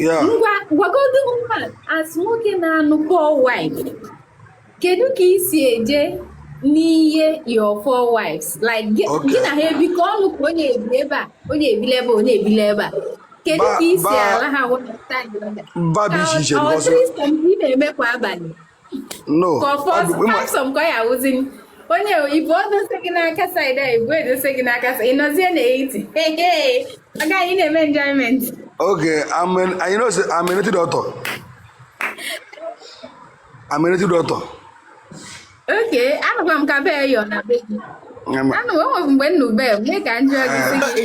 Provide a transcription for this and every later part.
ngwa gwagodu m as nwoke na-anụ four wife kedu ka i si eje n'ihe your four wives like gị na ha ebikọ ọnụ ka onye ebi ebe a onye ebile ebe onye ebile ebe a kedu ka i si ala ha ị na-eme kwa abalị no onye ibu edose gị n'aka side a ibu edose gị n'aka ị nọzie n'etiti agaghị na-eme enjoyment oge anyị nọzi I'm a native doctor I'm a native doctor okay anụkwa m ka bee yọ na be gị anụ enweghị mgbe nnu bee mee ka njọ gị si gị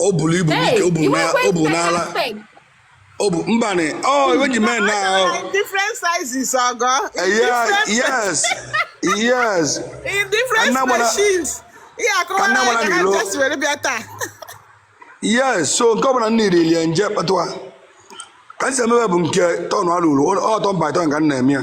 o buru ibu Hey, n'ike o buru you na- went o buru better n'ala spec. o bụ mbanị ọ iwe ji mee na ahụ In different sizes, Ogo. In Yeah, different, yes yes in different Anna Mara- species. Yeah, come Anna on, Mara I Milo. just very better. yes so nke ọ bụla nna iri lie nje kpatụwa ka m si emebe bụ nke turn alụrụ ọ turn by turn ka m na-eme ya